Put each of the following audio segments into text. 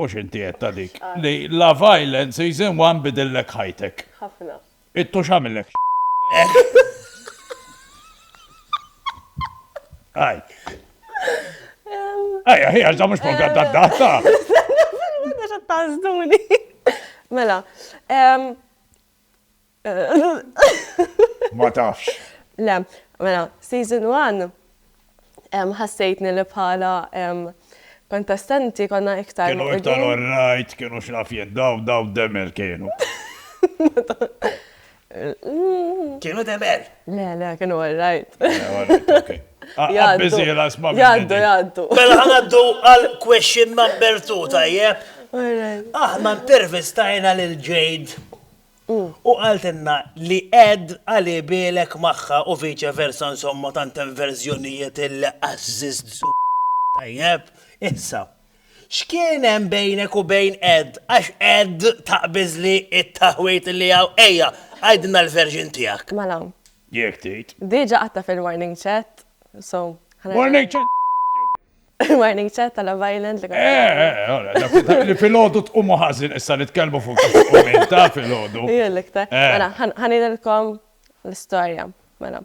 U x'inti għedt ta' dik li la violence season one bidillek ħajtek. Ħafna. It-tux għamillek xi. Aj. Aj, aj, għax da mhux program ta' data. Għax tażduni. Mela, Ma tafx. Le, mela, season one ħassejtni li bħala kontestanti konna iktar. Kienu iktar all right, kienu x'naf jien, daw daw demel kienu. Kienu demel! Le, le, kienu all right. Jaddu, jaddu. Mela ħanaddu għal question number 2, tajjeb. Aħna intervistajna lil Jade mm. u għaltinna li ed għali bilek maħħa u viċe versa insomma tant verżjonijiet il-azzizzu. Tajjeb, issa, X'kien hemm bejnek u bejn Ed, għax Ed taqbiżli t-taħwid li hawn, ejja, għidilna l-version tiegħek. Mela. Jekk tgħid. Diġa qgħadtha fil-warning chat, so ħa nerġa'. Warning chat jew. Warning chat ta' Love Island li kont. Eh, eh, ora, dak li filgħodu tqumu ħażin issa nitkellmu fuq kif tqum ta' filgħodu. Hi l-iktar. Mela, ħa ngħidilkom l-istorja, mela.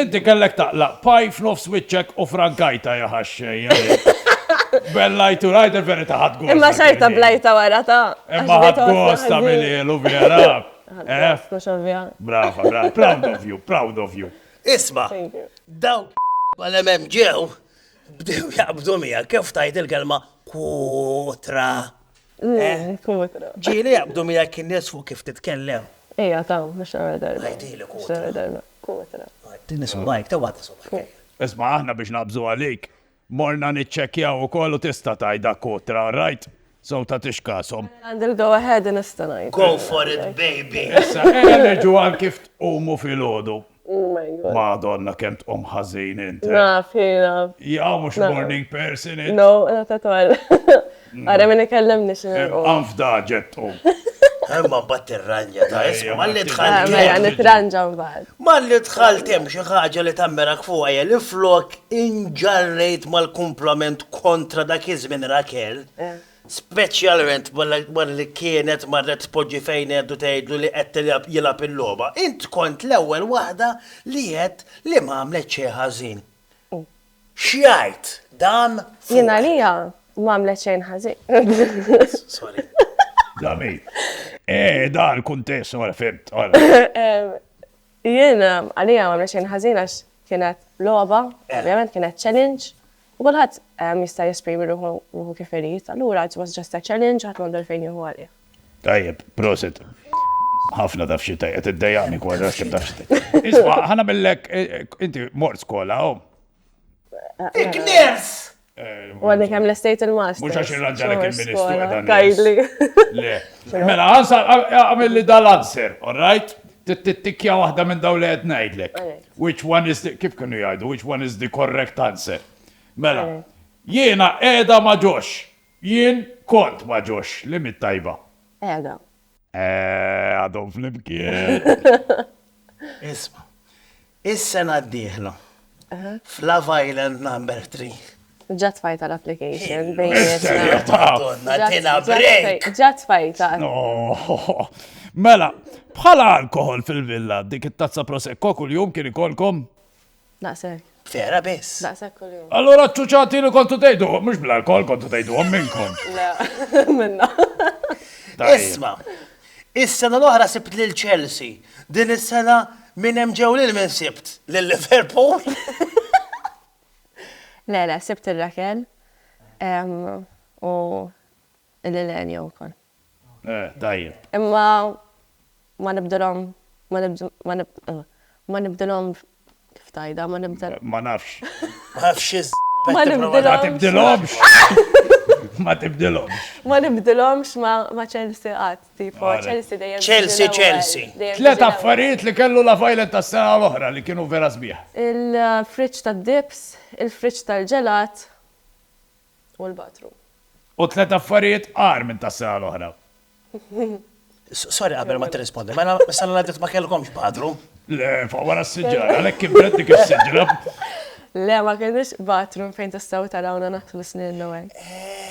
Inti kellek taqlaq paj f'nofs wiċċek u frankajta jaħaxxej. Bellajtu rajt il-verita ħad gosta. Imma xajta blajta wara ta' Imma ħad gosta mill-ilu vera. Eh? Brava, brava. Proud of you, proud of you. Isma, daw għal-emem ġew, bdew jaqbdu mija, kif tajt il-kelma kutra. Ġili jaqbdu miegħek in-nies fuq kif titkellem. Ejja taw, biex tara darba. Ngħidilek hu. Biex tara darba. Kutra. Għidtini subgħajk, taw għadni subgħajk. Isma' aħna biex naqbżu għalik, morna niċċekkjaw ukoll u tista' tgħid dak kutra, all right? So ta' tixkashom. Għandi l-go ahead nista' ngħid. Go for it baby. Issa, ejja nerġgħu għal kif tqumu filgħodu. Oh my God. Madonna kemm tqum ħażin int. Eh? Naf, naf. Jaw mhux morning person int. No, not at all. Mm. Ara minn ikellem nix. Anfda ġet tqum. Imma bat tirranja ta' isma, malli tħalli. Mela, mela nitranja mbagħad. Malli tħall tem xi ħaġa li tammerak fuqha jel flok inġarrejt mal-kumplament kontra dak iż-żmien Rakel. Eh. speċjalment wara li kienet marret tpoġġi fejn għedt u tgħidlu li qed jilgħab il-logħba, int kont l-ewwel waħda li għedt li m'għamlet xejn ħażin. X'jgħid dan fuqek? Jien għalija m'għamlet xejn ħażin. Sorry. Da min? Eh, da l-kuntest, ora fimt, ora. Jien għalija m'għamlet xejn ħażin għax kienet logħba, ovvjament kienet challenge U kulħadd jista' jesprimi ruħu kif irid, allura it was just a challenge, ħadd m'għandu għalfejn jieħu għalih. Tajjeb, prosit. Ħafna taf xi tajjeb, qed iddejjaqni kważi għax kemm taf xi tajjeb. Isma' ħana millek inti mort skola hawn. Igners! U għadni kem l-estate il-mast. Mux għax il-raġġalek il-ministru. Kajdli. Mela, għamil li dal-answer, all right? Trid tittikkja waħda minn dawn li qed ngħidlek. Which one is the, kif kienu jgħidu, which one is the correct answer. Mela, jiena qiegħda ma' Josh. Jien kont ma' Josh, li mit tajba? Qiegħda. Eeh, għadhom flimkien. Isma'. Is-sena d-dieħla, f'Love Island Number Three. Ġa tfajta l-application bejnietna. Ġa tfajta. Mela, bħala alkohol fil-villa, dik it-tazza prosecco kuljum kien ikolkom? Daqshekk. Vera biss. Daqshekk kuljum. Allura ċuċati li kontu tgħidu, mhux bl-alkohol kontu tgħidu minnkom. Le, minna. Isma', Is-sena l-oħra sibt lil Chelsea, din is-sena minn hemm ġew lil min sibt? Lil Liverpool? Le, le, sibt lil Raquel u lil Enio wkoll. Eh, tajjeb. Imma ma nibdilhom ma nibdilhom Kif tgħidha, ma nibdel. Ma nafx. Ma nafx xi Ma nibdilhomx. Ma tibdilhomx. Ma tibdilhomx. Ma nibdilhomx ma' Chelsea qatt, tipo Chelsea dejjem. Chelsea, Chelsea. Tliet affarijiet li kellu La Violet tas-sena l-oħra li kienu vera sbieħ. Il-friġġ tad-dips, il-friġġ tal-ġelat. u l-bathroom. U tliet affarijiet agħar minn tas-sena l-oħra. Sorry qabel ma tirrispondi, mela s-sena li għaddiet ma kellkomx bathroom? Le, fuq wara s-siġar, għalhekk kibret dik is-siġra. Le, ma kellniex bathroom fejn tistgħu tarawna naħslu sninna u hekk.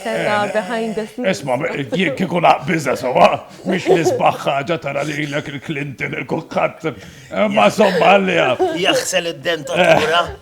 Kellna behind the scenes. Isma', jien kieku naqbiżha sewwa, mhix l-isbaħ ħaġa tara lilek il-Clinton, il-kulħadd, imma żomm għaliha. Jaħsel id-dentatura.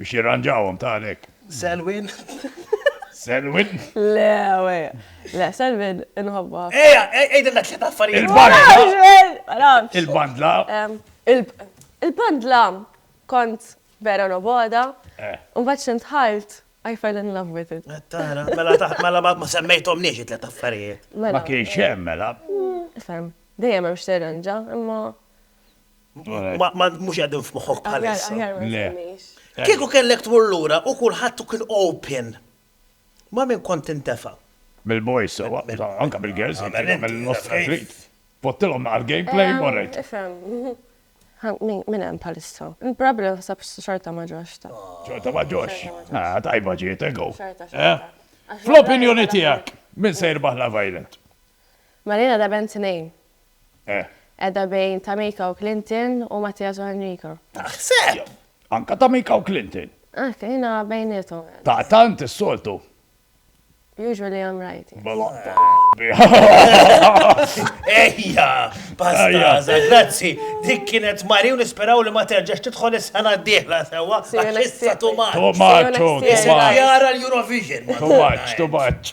Biex jirranġawhom, ta' għalhekk. Selwyn. Selwyn? Le, we. Le, Selwyn inħobbha ħafna. Ejja, għidilna tliet affarijiet. Il-bandla. Il-bandla. Il-bandla kont vera noboda. Mbagħad xi ntħalt I fell in love with it. Tara, mela ta' mela ma semmejthomniex it-tliet affarijiet. Ma kienx hemm mela. Ifhem. Dejjem hemm x'tirranġa, imma Mux għedin f'moħħok bħalissa. Kieku kellek tmur lura u kulħadd kien open. Ma' min kont tintefa'? Mill-boys, anka mill-girls, mill-nofs trit. Pottilhom naqra gameplay u rajt. Min hemm bħalissa? Probabbli naħseb xorta ma ġox ta'. Xorta ma ġox. Tajba ġiet, ego. Fl-opinjoni tiegħek, min se jirbaħ Love Island? Malina da bent tnejn. Eh. Qiegħda bejn Tamika u Clinton u Mattias u Enrico. Taħseb! Anka Tamika u Clinton. Hekk, jiena bejniethom. Ta' tant is-soltu. Usually I'm right. Ejja, pastaza, grazzi. Dik kienet Mari u nisperaw li ma terġax tidħol is-sena d-dieħla sewa. Issa tu maċ. Tu maċ, tu maċ. Jara l-Eurovision. Tu maċ, tu maċ.